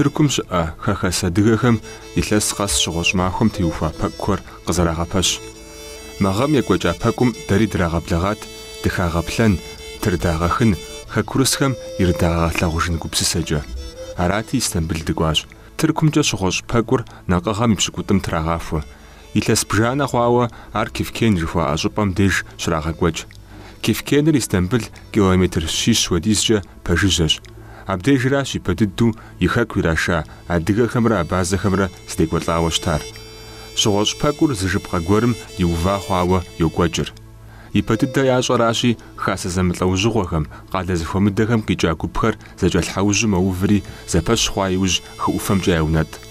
Тыркум щыӏэ хэхэс адыгэхэм илъэс къэс щыгъуэщӏ махуэм теухуа пэкӏухэр къызэрагъэпэщ. Мы гъэм екӏуэкӏа пэкӏум дэри драгъэблэгъат дыхагъэплъэн, тырдагъэхын, хэкурысхэм ирыдагъэгъэлъагъужын гупсысэкӏэ. Арати, Истамбыл дыкӏуащ. Тыркумкӏэ щыгъуэщӏ пэкӏур накъыгъэм и пщыкӏутӏым трагъахуэ, Илъэс бжанэ хъуауэ ар Кефкен жыхуаӏэ щӏыпӏэм деж щрагъэкӏуэкӏ. Кефкеныр Истамбыл километр щищ хуэдизкӏэ пэжыжьэщ. Абдежращ ипэ дыдэу и хэку ираша адыгэхэмрэ абазэхэмрэ здекӏуэлӏауэ щытар. Щыгъуэщӏ пэкӏур зы жыпхъэ гуэрым иува хъуауэ йокӏуэкӏыр. Ипэ дыдэ ящӏэращи, хасэ зэмылӏэужьыгъуэхэм, къалэ зэхуэмыдэхэм къикӏа гупхэр зэкӏэлъхьэужьу мэуври, зэпэщ хъуа иужь хы ӏуфэмкӏэ яунэтӏ.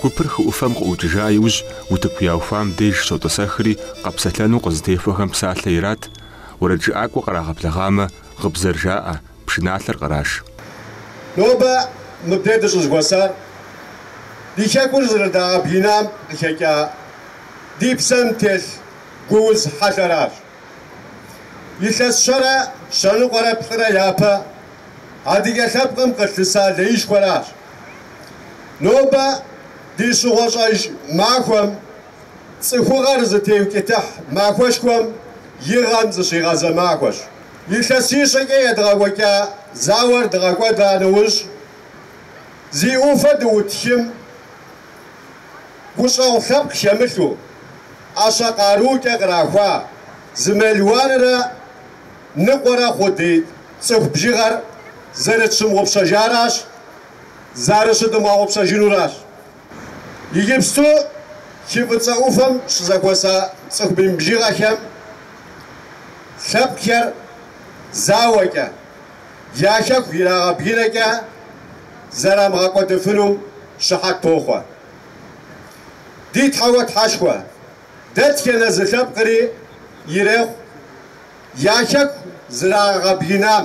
Гупыр хы ӏуфэм къыӏукӏыжа иужь, утыку яухуам деж щотӏысэхри, къэпсэлъэну къызытехуэхэм псалъэ ират, уэрэджыӏакӏуэ кърагъэблэгъамэ, гъыбзэр жаӏэ, пшыналъэр къраш. Нобэ мыбдеж дыщӏызэхуэсар ди Хэкур зэрыдагъэбгынам къыхэкӏа ди псэм телъ гууз хьэлъэращ. Илъэс щэрэ щэныкъуэрэ плӏырэ япэ адыгэ лъэпкъым къылъыса леишхуэращ. Нобэ ди щыгъуэщӏэж махуэм цӏыхугъэр зытеукӏытыхь махуэшхуэм и гъэм зыщигъэзэ махуэщ. Илъэсищэкӏэ едгъэкӏуэкӏа зауэр дгъэкӏуэда нэужь, зи ӏуфэ дыӏут хым Гущӏэгъу лъэпкъ хэмылъу, ӏэщэ къарукӏэ кърахуа зы мелуанрэ ныкъуэрэ хъу ди цӏыху бжыгъэр зэрытщымыгъупщэжаращ, зэрыщыдымыгъэгъупщэжынуращ. Иджыпсту хы Фӏыцӏэ ӏуфэм щызэхуэса цӏыху мин бжыгъэхэм лъэпкъхэр зауэкӏэ. я хэку ирагъэбгынэкӏэ зэрамыгъэкӏуэдыфыну щыхьэт тохъуэ. Ди Тхьэуэ Тхьэшхуэ дэтхэнэ зы лъэпкъри ирехъу я хэку зрагъэбгынам,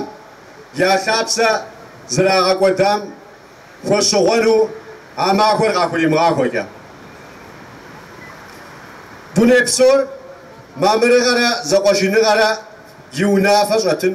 я лъапсэ зрагъэкӏуэдам хуэщыгъуэну а махуэр къахуримыгъахуэкӏэ. Дуней псор мамырыгъэрэ зэкъуэшыныгъэрэ и унафэ щӏэтын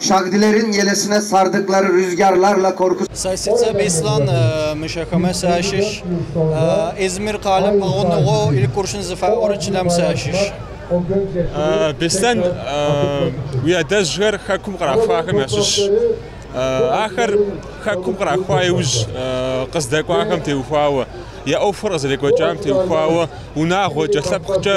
Şagdilerin yelesine sardıkları rüzgarlarla korkusuz. Сэ сицӏэ Беслъэн, Мыщахэмэ сащыщ. Измир къалэм пэгъунэгъуу Илькуршын зыфаӏорэ чылэм сащыщ. Беслъэн, уи адэжьхэр хэкум кърахуахэм ящыщщ. Ахэр хэкум кърахуа иужь, къыздэкӏуахэм теухуауэ, я ӏуэхур къызэрекӏуэкӏам теухуауэ, унагъуэкӏэ, лъэпкъкӏэ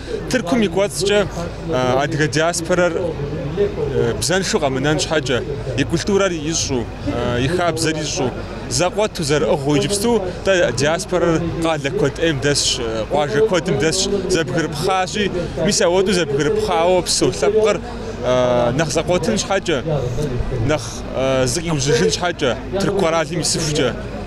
Тыркум и кӏуэцӏкӏэ адыгэ диаспорэр бзэншу къэмынэн щхьэкӏэ, и культурэр ищӏу, и хабзэр ищӏу, зэкъуэту зэрыӏыгъыу иджыпсту дэ диаспорэр къалэ куэд ӏейм дэсщ, къуажэ куэдым дэсщ, зэбгрыпхъащи, мис ауэдэу зэбгрыпхъауэ псэу лъэпкъыр нэхъ зэкъуэтын щхьэкӏэ, нэхъ зыкъиужьыжын щхьэкӏэ, тырку къэралым исыхукӏэ.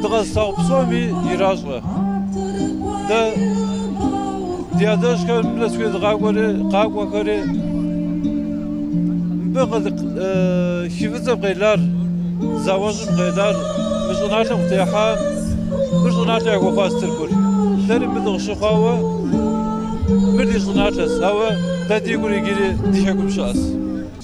Дыкъэзылъагъу псоми иращӏэ. Дэ ди адэжьхэр мылэ схуезыгъакӏуэри, къакӏуэхэри, мыбы хы Фӏыцӏэм къелар, зауэжьым къелар, мы щӏыналъэм къытехьа, мыр щӏыналъэ яхуэхъуащ Тыркур. Дэри мыр дыкъыщыхъуауэ, мыр ди щӏыналъэщ, ауэ дэ ди гур иджыри ди хэкум щыӏэщ.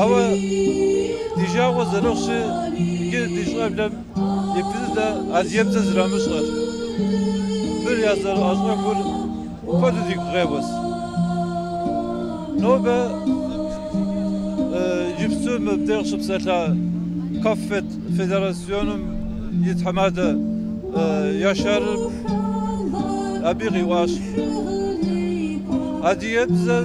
Ауэ ди жагъуэ зэрыхъущи, иджы ди щӏэблэм я бзэ, ди адыгэбзэр зэрамыщӏэр, мыр я зэрыӏэщӏэхур куэду дигу къеуэс. Нобэ иджыпсту мыбдеж щыпсэлъа КАФФЕД федерасьоным и тхьэмадэ Яшарым абы къиӏуащ, адыгэбзэр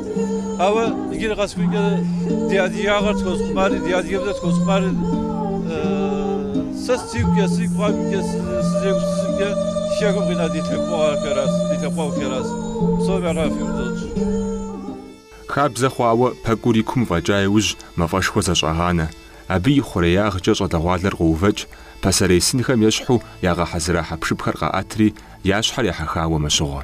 Ауэ иджыри къэсыхукӏэ ди адыгагъэр тхуэзыхъумари, ди адыгэбзэр тхуэзыхъумари сэ сигукӏэ, си гугъэкӏэ, сызегупсысымкӏэ хэкум къина ди лъэпкъэгъухэращ, ди лъэпкъэгъухэращ. Псоми ар яфӏихыу дыщӏэтщ. Хабзэ хъуауэ пэкӏур и кум фӏэкӏа иужь мафӏэшхуэ зэщӏагъанэ, абы и хъуреягъкӏэ щӏалэгъуалэр къоувэкӏ, пасэрей сынхэм ещхьу ягъэхьэзыра хьэпшыпхэр къаӏэтри, я щхьэр ехьэхауэ мэщыгъуэ.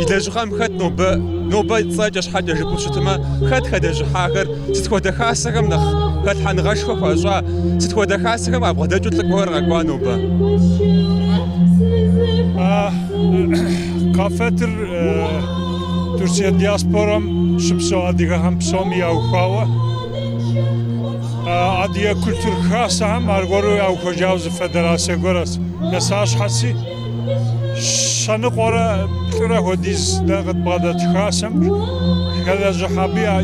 И лэжьыгъэм хэт нобэ, нобэ цӏэкӏэ щхьэкӏэ жыпӏэу щытмэ, хэт хэлэжьыхьахэр, сыт хуэдэ хасэхэм нэхъ хэлъхьэныгъэшхуэ хуащӏа, сыт хуэдэ хасэхэм къабгъэдэкӏыу лӏыкӏуэхэр къэкӏуа нобэ? КАФФЕД-ыр Турцие диаспорэм щыпсэу адыгэхэм псоми яухуауэ, адыгэ культур хасэхэм аргуэру яухуэжауэ зы федерацие гуэращ, нысащхьэци. щэныкъуэрэ плӏырэ хуэдиз дэ къытбгъэдэт хасэм хэлэжьыхь абы я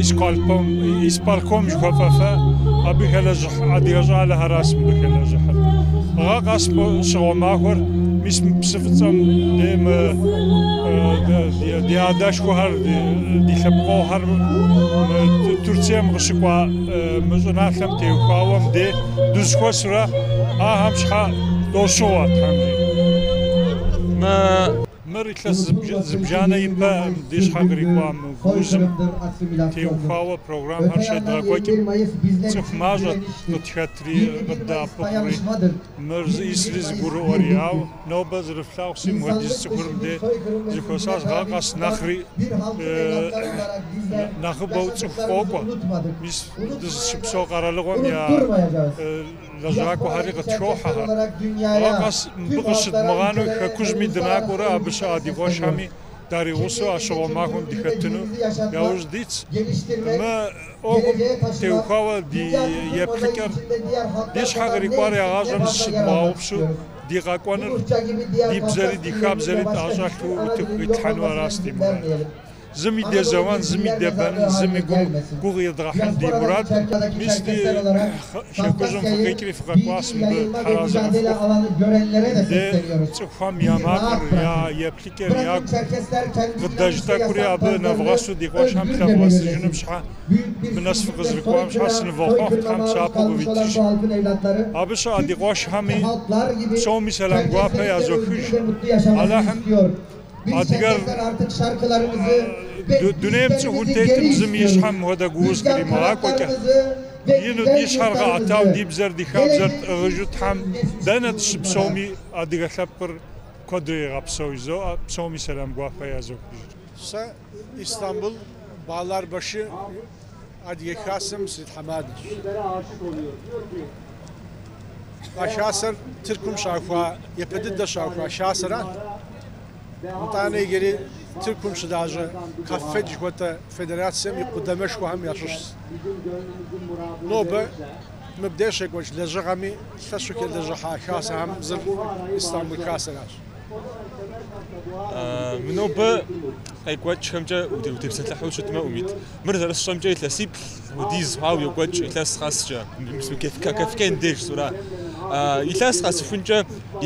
исполком жыхуэфӏэ фэ, абы хэлэжьыхь адыгэ щӏалэхэращ мыбы хэлэжьыхьыр. Гъэ къэс щыгъуэ махуэр, мис мы псы фӏыцӏэм дей мы ди адэшхуэхэр, ди лъэпкъыгъуэхэр Турцием къыщыкӏуа, Мы щӏыналъэм теухуауэ мыде дызыхуэсурэ ахэм щхьэ дощыгъуэ Тхьэм. Мыр илъэс зыбжанэ ипэ ди щхьэ кърикӏуа мы гуузым теухуауэ программэхэр щедгъэкӏуэкӏым цӏыху мащӏэт къытхэтри къыддэӏэпыкъури, мыр зищӏысри зыгурыӏуэри. Ауэ Нобэ зэрыфлъагъущи, мыхуэдиз цӏыхур мыде зыхуэсащ гъэ къэс нэхъри нэхъыбэу цӏыху къокӏуэ. Мис дызыщыпсэу къэралыгъуэм я лэжьакӏуэхэри къытхохьэхэр. Гъэ къэс мыбы къыщыдмыгъанэу хэкужьми дынакӏуэурэ абы щыӏэ ди къуэшхэми даригъусэу а щыгъуэ махуэм дыхэтыну яужь дитщ. Мы ӏуэхум теухуауэ ди еплъыкӏэр ди щхьэ кърикӏуар игъащӏэм зыщыдмыгъэгъупщу, Ди къэкӏуэныр ди бзэри ди хабзэри тӏэщӏэлъу утыку къитлъхьэну аращ ди мурадыр. Зыми дезэуэн, зыми дебэнын, зыми гугъу едгъэхьын ди мурадкъым. Мис ди Хэкужьым фыкъикӏри фыкъэкӏуащ мыбы тхьэразэ къыфхухъу. Ди цӏыхухэм я макъыр, я еплъыкӏэр ягу къыдэж тӏэкӏури абы нэвгъэсу ди къуэшхэм лъэвгъэӏэсыжыным щхьэ, Мыбы нэс фыкъызэрыкӏуам щхьэ сынывохъуэхъу Тхьэм псапэу къывитыж. Абы щыӏэ ди къуэшхэми, псоми сэлам гуапэ язохыж. Алыхьым адыгэр дунейм цӏыхур тетым зым и щхьэм мыхуэдэ гууз къримыгъакӏуэкӏэ, ину ди щхьэр къэӏэтау ди бзэр, ди хабзэр тӏыгъыжу Тхьэм дэнэ дыщыпсэуми адыгэ лъэпкъыр куэдрэ игъэпсэу жызоӏэ, псоми сэлам гуапэ язохыж. Истамбул, Багъларбашы, Адыгэ Хасэм сритхьэмадэщ. А хасэр Тыркум щаухуа, япэ дыдэ щаухуа хасэращ. Итӏанэ иджыри Тыркум щылажьэ Каффед жыхуэтӏэ федерацэм и къудамэшхуэхэм ящыщщ. Нобэ мыбдеж щекӏуэкӏ лэжьыгъэми лъэщу хэлэжьыхьа хасэхэм зыр Истамбул хасэращ. Нобэ къекӏуэкӏхэмкӏэ утепсэлъыхьу щытмэ, Умит. Мыр зэрысщӏэмкӏэ илъэсиплӏ хуэдиз хъуауэ йокӏуэкӏ илъэс къэскӏэ. Кефкен деж сура. Илъэс къэсыхункӏэ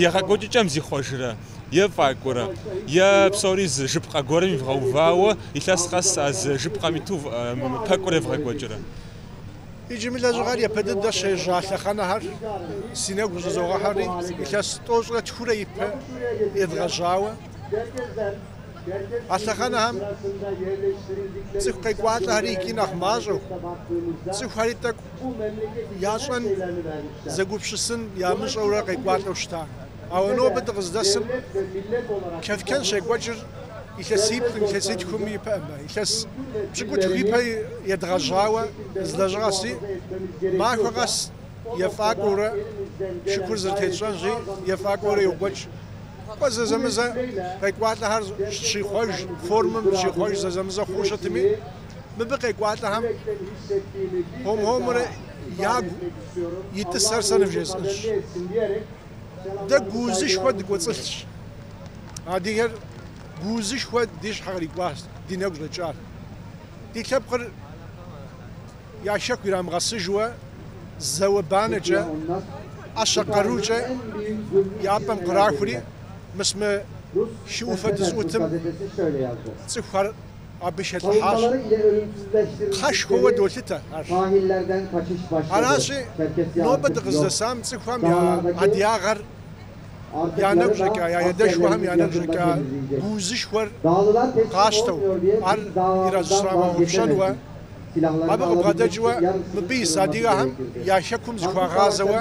егъэкӏуэкӏыкӏэм зихъуэжрэ, ефӏакӏуэрэ, е псори зы жыпхъэ гуэрым ивгъэувауэ илъэс къэс а зы жыпхъэм иту пэкӏур евгъэкӏуэкӏрэ. Иджы мы лэжьыгъэр япэ дыдэ щежьа лъэхъэнэхэр си нэгу щӏызогъэхьэри, илъэс тӏощӏрэ тхурэ ипэ едгъэжьауэ. А лъэхъэнэхэм цӏыху къекӏуалӏэхэри икӏи нэхъ мащӏэу, цӏыхухэри тӏэкӏу ящӏэн, зэгупщысын ямыщӏэурэ къекӏуалӏэу щыта. Ауэ нобэ дыкъыздэсым Кэфкэн щекӏуэкӏыр илъэсиплӏкъым, илъэситхуми пыӏэмэ, илъэс пщыкӏутху ипэ едгъэжьауэ зы лэжьыгъэщи, махуэ къэс ефӏакӏуэурэ шыкур зэрытетщӏэнщи, ефӏакӏуэурэ йокӏуэкӏ. Кӏуэ зэзэмызэ къекӏуалӏэхэр щихъуэж, формэм щихъуэж зэзэмызэ хъууэ щытми, мыбы къекӏуалӏэхэм хуэм-хуэмурэ ягу итӏысэр сэ нывжесӏэнщ. Дэ гуузышхуэ дыкӏуэцӏылъщ. Адыгэр гуузышхуэ ди щхьэ кърикӏуащ, ди нэгу щӏэкӏащ. Ди лъэпкъыр я хэку ирамыгъэсыжыуэ зауэ-банэкӏэ, ӏэщэ къарукӏэ я пӏэм кърахури, мыс мы хы ӏуфэ дызыӏутым цӏыхухэр абы щелӏыхьащ. Кхъэшхуэуэ долъытэ ар. Аращи, нобэ дыкъыздэсам цӏыхухэм я адыгагъэр я нэгу щӏэкӏа, я адэшхуэхэм я нэгу щӏэкӏа гуузышхуэр къащтэу, ар ира зыщрамыгъэгъупщэнуэ, абы къыбгъэдэкӏыуэ мыбы ис адыгэхэм я Хэкум зыхуагъазэуэ,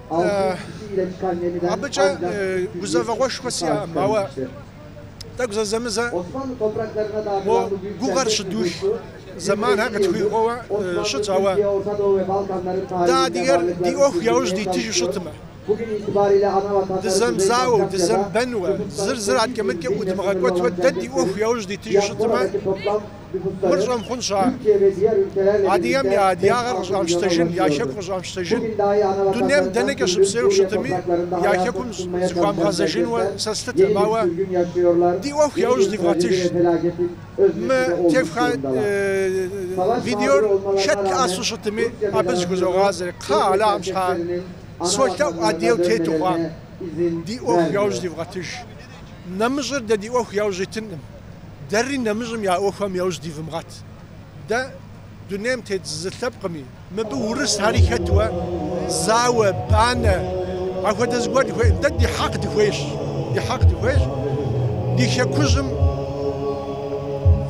Абыкӏэ гузэвэгъуэшхуэ сиӏэкъым, ауэ тӏэкӏу зэзэмызэ мо гугъэр щыдух зэманхэр къытхуихуэуэ щытщ, ауэ дэ адыгэр ди ӏуэху яужь дитыжу щытмэ, дызэмызауэу, дызэмыбэнуэ, зыр зыр адкӏэ-мыдкӏэ ӏудмыгъэкӏуэтуэ дэ ди ӏуэху яужь дитыжу щытмэ, Мыр щӏэмыхъун щыӏэ? Адыгэм я адыгагъэр къыщӏамыщтэжын, я Хэку къыщӏамыщтэжын. Дунейм дэнэкӏэ щыпсэуи щытми, я Хэкум зыхуамыгъэзэжынуэ сэ слъытэкъым. Ауэ ди ӏуэху яужь дивгъэтыж. Мы тефха видеор хэт лъэӏэсу щытми, абы зыхузогъазэрэ. Кхъа, Алахьым щхьэкӏэ. Солъэӏу адыгэу тету хъуам. Ди ӏуэху яужь дивгъэтыж. Нэмыщӏыр дэ ди ӏуэху яужь итынкъым, дэри нэмыщӏым я ӏуэхухэм яужь дивымыгъэт. Дэ дунейм тет зы лъэпкъми, мыбы урысхэри хэтуэ, зауэ, банэ, ахуэдэ зыгуэр дыхуейкъым. Дэ ди хьэкъ дыхуейщ, ди хьэкъ дыхуейщ ди хэкужьым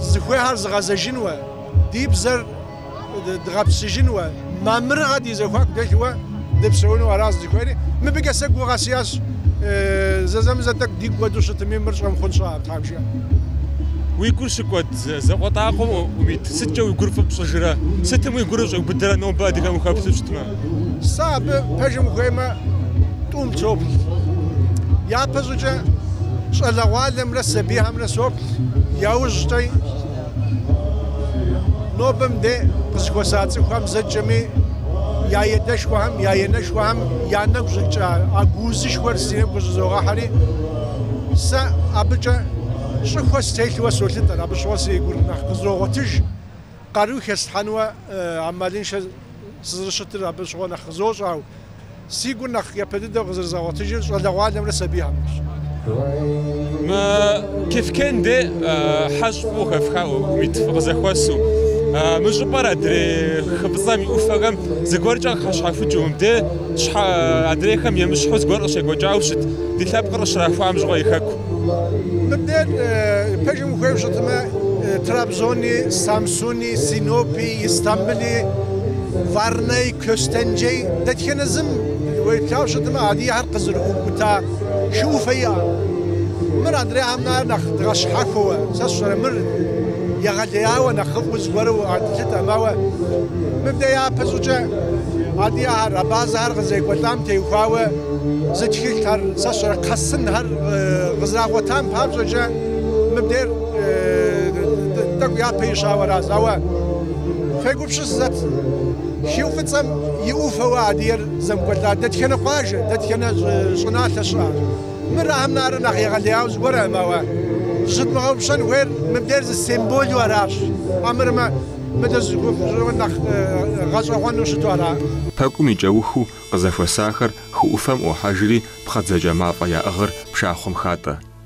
зыхуейхэр зыгъэзэжынуэ, ди бзэр. дгъэпсыжынуэ, мамырыгъэ ди зэхуаку дэлъуэ дыпсэуну аращ зыхуейри. Мыбыкӏэ сэ гугъэ сиӏэщ, зэзэмызэ тӏэкӏу дигу кӏуэду щытми, мыр щӏэмыхъун щыӏэ, Тхьэм жиӏэ. Уи гур щыкӏуэд закъуэтӏакъуэм, Умит, сыткӏэ уи гур фӏы пщӏыжрэ? Сытым уи гур щӏэубыдэрэ нобэ адыгэм ухэплъу щытмэ? Сэ абы, пэжым ухуеймэ, тӏум соплъ. Япэщӏыкӏэ щӏалэгъуалэмрэ сабийхэмрэ соплъ, яужькӏэ Нобэ мыде къызыхуэса цӏыхухэм зэкӏэми я едэшхуэхэм, я енэшхуэхэм я нэгу щӏэкӏа а гуузышхуэр си нэгу къыщӏызогъэхьэри, сэ абыкӏэ щӏыхуэ стелъуэ солъытэр, абы щыгъуэ си гур нэхъ къызогъуэтыж, къару хеслъхьэнуэ амалыншэ сызэрыщытыр абы щыгъуэ нэхъ къызощӏэ, ауэ Си гур нэхъ япэ дыдэу къызэрызгъэгъуэтыжыр щӏалэгъуалэмрэ сабийхэмрэщ. Мы Кефкен де хьэщӏапӏэу хэфхауэ, Умит, фыкъызэхуэсу. Мы щӏыпӏэр адрей хы фӏыцӏэм и ӏуфэхэм зыгуэркӏэ къыхэщхьэхукӏыу, мыбдей щхьэ адрейхэм емыщхьу зыгуэр къыщекӏуэкӏауэ щыт, ди лъэпкъыр къыщрахуам щыгъуэ и Хэку. Мыбдейр пэжым ухуейуэ щытмэ, Трабзони, Самсуни. Синопи, Истамбыли, Варнай, Костенджей дэтхэнэ зым уеплъауэ щытмэ, адыгэхэр къызэрыӏукӏута хы ӏуфэ иӏэкъым. Мыр адрейхэм нара нэхъ дгъэщхьэхуэуэ, сэ сщӏэрэ, мыр егъэлеяуэ нэхъыфӏу зыгуэру къэтлъытэкъым. Ауэ мыбдэ япэ щӏыкӏэ адыгэхэр абазэхэр къызэрекӏуэлӏам теухуауэ зы тхылъхэр, сэ сщӏэрэ, кхъэсынхэр къызэрагъуэтам папщӏэкӏэ мыбдейр. Тӏэкӏу япэ ищауэ аращ. Ауэ фегупсысыт, хы фӏыцӏэм и ӏуфэуэ адыгэр земыкӏуэлӏа дэтхэнэ къуажэ, дэтхэнэ щӏыналъэ щыӏэ? Мыр ахэм нара нэхъ егъэлеяуэ зыгуэркъым, ауэ зыщыдмыгъэгъупщэн хуейр мыбдейр зы симболу аращ, армырмэ, мыдэ зы нэхъ гъэщӏэгъуэну щыту ара? Пэкӏум и кӏэухыу къызэхуэсахэр хы ӏуфэм ӏуохьэжри, пхъэдзакӏэ мафӏэ яӏыгъыр пшахъуэм хатӏэ.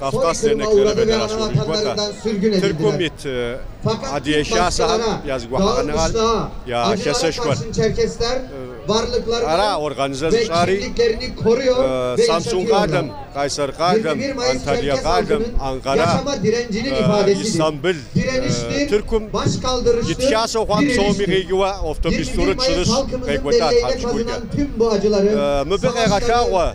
Kafkas Dernekleri Federasyonu жыхуэтӏэ, Тыркум ит Адыгэ Хасэхэм я зэгухьэныгъэр, я хасэшхуэр. Ара организэ зыщӏари Самсун къалэм, Къайсэр къалэм, Анталия къалэм, Анкъара, Истамбыл, Тыркум ит хасэу хъуам псоми къикӏыуэ автобус тӏурытӏ-щырыщ къекӏуэлӏа тхьэмыщкӏуркӏэ. Мыбы къегъэлъагъуэ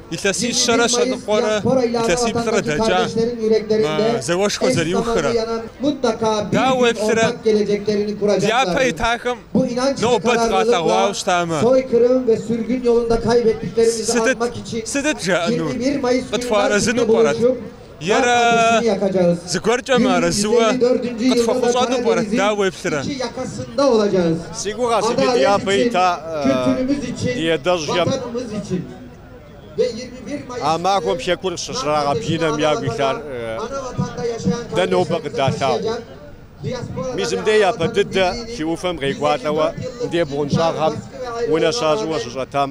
Илъэсищэрэ щэныкъуэрэ илъэсиплӏрэ дэкӏа мы зауэшхуэр зэриухрэ? Дауэ уеплърэ? Дяпэ итахэм нобэ дыкъалъэгъуауэ щытамэ, сытыт, сытыт жаӏэнур? Къытхуэарэзыну пӏэрэт? Ерэ зыгуэркӏэ мыарэзыуэ къытхуэхъущӏэну пӏэрэт? Дауэ уеплърэ? Си гугъэ, сытыт дяпэ ита ди адэжьхэм? А махуэм Хэкур щрагъэбгынэм ягу илъар дэ нобэ къыдалъагъуу. Мис мыдей япэ дыдэ хы ӏуфэм къекӏуалӏэуэ мыдей бгъуэнщӏагъхэм унэ щащӏыуэ щыщӏэтам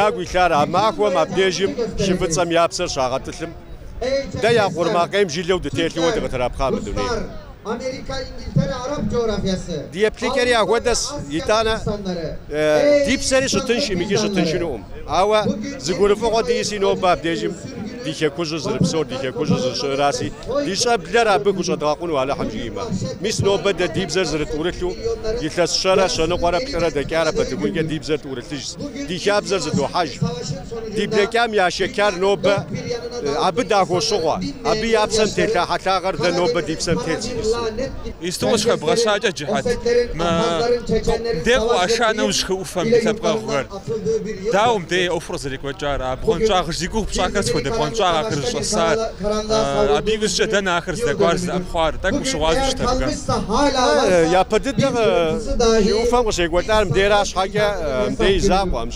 ягу илъар а махуэм абдежым хы Фӏыцӏэм я псэр щагъэтӏылъым, дэ я къурмакъейм жылэу дытелъыуэ дыкъытрапхъа мы дунейм. Ди еплъыкӏэри ахуэдэщ, итӏанэ ди псэри щытыншкъым икӏи щытыншынукъым. Ауэ зы гурыфӏыгъуэ диӏэси нобэ абдежым ди Хекужьыр зырыпсор, ди Хекужьыр зырыщыӏэраси, ди щӏэблэр абы хущӏэдгъэкъуну Алыхьым жиӏимэ. Мис нобэ дэ ди бзэр зырытӏурылъу, илъэс щэрэ, щэныкъуэрэ, плӏырэ дэкӏарэ пэтыхункӏэ ди бзэр тӏурылъыжщ, ди хабзэр зыдохьэж. Ди блэкӏам яшэчар нобэ абы дахуощыгъуэ, абы я псэм телъа хьэлъагъэр дэ нобэ ди псэм тет зи тӏысу. Исту къыщыхэбгъэщакӏэ, Джыхьэт, мыдэ къыӏуаша нэужь хы ӏуфэм ди лъэпкъэгъухэр. Дауэ мыбдеж я ӏуэхур къызэрекӏуэкӏар, а бгъуэнщӏагъыжь зи гугъу пщӏахэр сыт хуэдэ бгъуэнщӏагъ ахэр зыщӏэсар, абы иужькӏэ дэнэ ахэр здэкӏуар, здэӏэпхъуар, тӏэкӏу ущыгъуазэу щытэркъэ? Япэ дыдэ хы ӏуфэм къыщекӏуэлӏар мыбдеж ара щхьэкӏэ мыбдеж и закъуэ.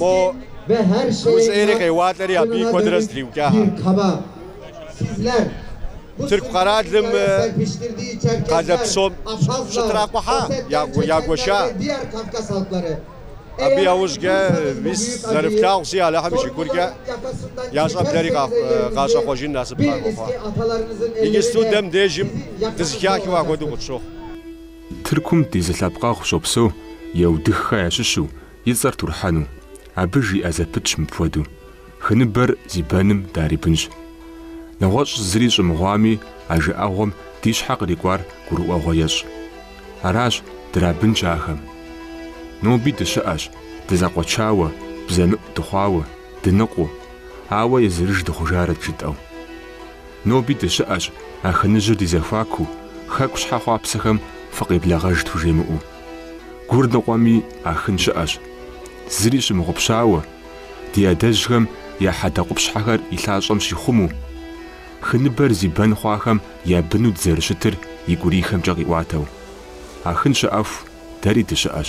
Мо уз ӏейри къеуалӏэри абыи куэдыр зэтриукӏа. Тырку къэралым къалэ псом щытракъухьа, ягуэша. Абы яужькӏэ мис зэрыфлъагъуси Алыхьым и шыкуркӏэ я щӏэблэри къащӏэхъуэжын насып къахуэхъуа. Иджысту дэм дежым дызыхахыу ахуэдэу къытщохъу. Тыркум ди зы лъэпкъэгъу щопсэу, Еутыххэ ящыщу, И цӏэр Турхьэну, абы жиӏэ зэпытщ мыпхуэдэу, Хы ныбэр зи бэным дарибынщ. Нэгъуэщӏ зыри щӏымыгъуами, а жыӏэгъуэм ди щхьэ кърикӏуар гурыӏуэгъуэ ещӏ. Аращ, драбынщ ахэм. Ноби дыщыӏэщ, дызэкъуэчауэ, бзэмыӏу дыхъуауэ, дыныкъуэу, ауэ езырыж дыхъужарэт жытӏэу. Ноби дыщыӏэщ, Ахыныжьыр ди зэхуаку, хэку щхьэ хъуапсэхэм фыкъеблэгъэж тхужемыӏэу. Гур ныкъуэми Ахын щыӏэщ. Зыри щымыгъупщауэ, ди адэжьхэм я хьэдэкъупщхьэхэр и лъащӏэм щихъумэу, хы ныбэр зи бэн хъуахэм я быну дызэрыщытыр и гурийхэмкӏэ къиӏуатэу. Ахын щыӏэху, дэри дыщыӏэщ.